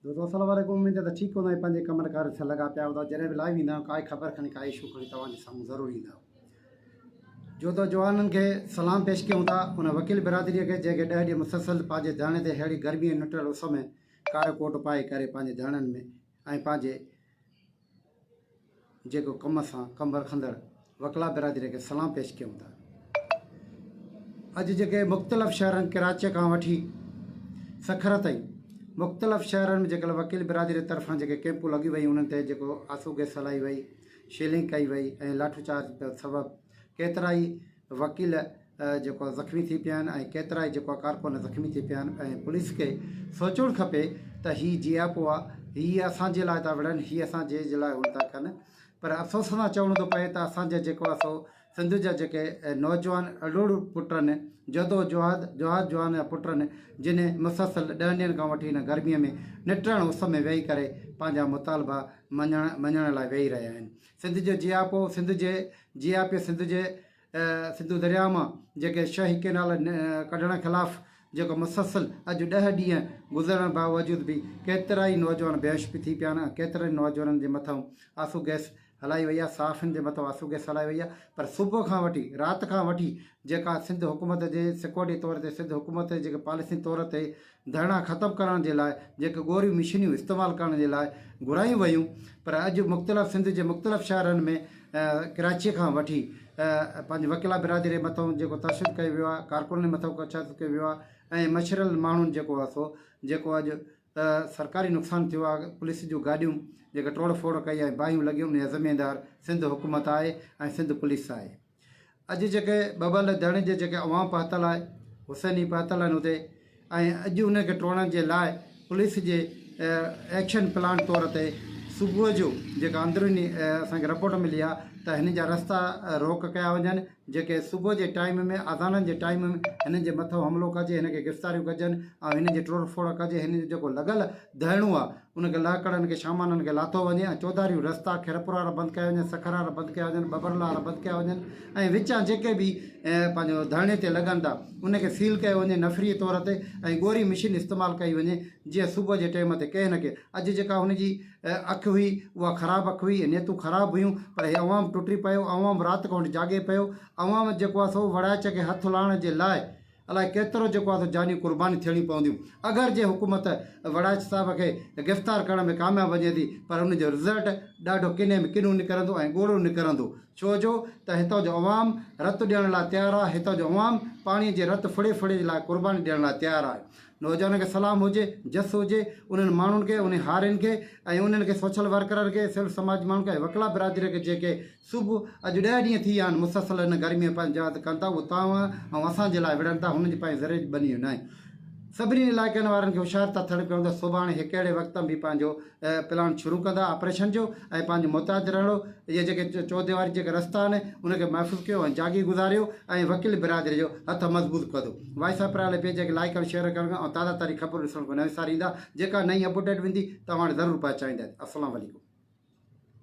دوستو السلام عليڪم اميد ته ٺيڪ هوندا ۽ پنهنجي ڪمن ڪارين سان لڳا پيا هوندا جڏهن به لائيو ايندا آهيون ڪائي خبر کڻي ڪائي اشو کڻي توهان جي سامهون ضرور ايندا آهيون جو تو جوانن کي سلام پيش ڪيون ٿا ان وڪيل برادري کي جنهن کي ڏهه ڏينهن مسلسل پنهنجي ڌرڻي تي ههڙي گرمي ۽ نٽل اس ۾ ڪارو ڪوٽ پائي ڪري پنهنجي ڌرڻن ۾ ۽ پنهنجي جيڪو ڪم سان ڪم رکندڙ وڪلا برادري کي سلام پيش ڪيون ٿا. اڄ جيڪي مختلف شهرن ڪراچيء کان وٺي سکر تائين مختلف شهرن ۾ جيڪل وڪيل برادري طرفان جيڪي ڪيمپون لڳيون ويون انهن تي جيڪو آسو گئس هلائي وئي شيلنگ ڪئي وئي ۽ لاٺو چارج سبب ڪيترائي وڪيل جيڪو زخمي ٿي پيا آهن ۽ ڪيترائي جيڪو ڪارڪن زخمي ٿي پيا آهن ۽ پوليس کي سوچڻ کپي ته هي جي آء پو آ هي اسان جي لاء ٿا وڙهن هي اسان جي جي لاء هو ٿا ڪن پر افسوس سان چوڻو ٿو پئي ته اسان جا جيڪو اسو سنڌ جا جيڪي نوجوان اڙوڙ پٽن جدو جواد جواد جوان جا پٽن جن مسلسل ڏهن ڏينهن کان وٺي هن گرميء ۾ نٽرڻ اس ۾ ويهي ڪري پنهنجا مطالبا مڃڻ مڃڻ لاء ويهي رهيا آهن سنڌ جو جي آء پو سنڌ جي جي آء پي سنڌ جي سنڌو درياهه مان جيڪي شاهي ڪئنال ڪڍڻ خلاف جيڪو مسلسل اڄ ڏهه ڏينهن گذرڻ باوجود به ڪيترائي نوجوان بيهوش به ٿي پيا آهن ۽ ڪيترن نوجوانن جي مٿئون آسو گئس هلائي وئي آهي صحافين جي مٿئون آسو گئس هلائي وئي آهي پر صبح کان وٺي رات کان وٺي جيڪا سنڌ حڪومت جي سڪيورٽي طور تي سنڌ حڪومت جي جيڪي پاليسين طور تي ڌرڻا ختم ڪرڻ جي لاء جيڪي ڳوريون مشينيون استعمال ڪرڻ جي لاء گهرايون ويون پر اڄ مختلف سنڌ جي مختلف شهرن ۾ ڪراچي کان وٺي پنهنجي وڪلا برادري مٿان جيڪو تشدد ڪيو ويو آهي ڪارڪنن مٿان تشدد ڪيو ويو آهي ۽ مشرل ماڻهن جيڪو آهي سو جيڪو اڄ سرڪاري نقصان ٿيو آهي پوليس جون گاڏيون جيڪي ٽوڙ ڦوڙ ڪئي ۽ باهيون لڳيون ان جا ذميدار سنڌ حڪومت آهي ۽ سنڌ پوليس آهي اڄ جيڪي ٻٻل ڌڻ جي جيڪي عوام پهتل آهي حسين ئي پهتل آهن اتي ۽ اڄ ان کي ٽوڙڻ جي لاء پوليس جي ايڪشن پلان طور تي صبح جو جيڪا اندروني اسانکي رپورٽ ملي آهي ته هن جا رستا روڪ ڪيا وڃن جيڪي صبح جي ٽائيم ۾ اذانن جي ٽائيم ۾ هنن جي مٿو حملو ڪجي هن کي گرفتاريون ڪجن ۽ هن جي ٽوڙ ڦوڙ ڪجي هن جو جيڪو لڳل ڌرڻو آهي ان کي لهه ڪڙن کي شامانن کي لاٿو وڃي ۽ چوڌاريون رستا خيرپور وارا بند ڪيا وڃن، سکر وارا بند ڪيا وڃن، ٻٻرل وارا بند ڪيا وڃن ۽ وچان جيڪي به پنهنجو ڌرڻي تي لڳن ٿا ان کي سيل ڪيو وڃي نفري طور تي ۽ ڳوري مشين استعمال ڪئي وڃي جيئن صبح جي ٽيم تي ڪنهن نه ڪنهن اڄ جيڪا هن جي اک هئي اها خراب اک هئي نيتون خراب هيون پر هي عوام ٽٽي پيو عوام رات کان وٺي جاڳي پيو عوام جيڪو آهي سو وڙائچ کي هٿ لاهڻ جي لاء الائي ڪيترو جيڪو آهي سو جانيون قربانيون ٿيڻيون پونديون اگر جي حڪومت وڙائچ صاحب کي گرفتار ڪرڻ ۾ ڪامياب وڃي ٿي پر ان جو رزلٽ ڏاڍو ڪني ۾ ڪنو نڪرندو ۽ ڳوڙهو نڪرندو ڇو جو ته هتان جو عوام رت ڏيڻ لاء تيار آهي هتان جو عوام پاڻي جي رت ڦڙي ڦڙي لاء قرباني ڏيڻ لاء تيار آهي نوجوانن کي سلام هجي جس هجي انهن ماڻهن کي انهن هارين کي ۽ انهن کي سوشل ورڪرن کي سول سماج ماڻهن کي ۽ وڪلا برادري کي جيڪي صبح اڄ ڏهه ڏينهن ٿي ويا آهن مسلسل ان گرميء ۾ پنهنجي جاء تي ڪن ٿا، اهو توهان ۽ اسان جي لاء وڙهن ٿا، هنن جي پنهنجي ذري جي ٻنيون ناهن. سڀني علائقن وارن کي هوشيار ٿا ٿڙ ڪيون ته سڀاڻي هڪڙي وقت ۾ به پنهنجو پلان شروع ڪندا آپريشن جو ۽ پنهنجو محتاط رهڻو، اهي جيڪي چوديواري جيڪي رستا آهن ان کي محفوظ ڪيو ۽ جاڳي گذاريو ۽ وڪيل برادري جو هٿ مضبوط ڪندو. وائسراء پريالي پيج کي لائيڪ ۽ شيئر ڪرڻ ۽ تازه ترين خبرون ڏسڻ کان نه وساريندا، جيڪا نئين اپڊيٽ وندي توهان وٽ ضرور پهچائينداسين. السلام عليڪم.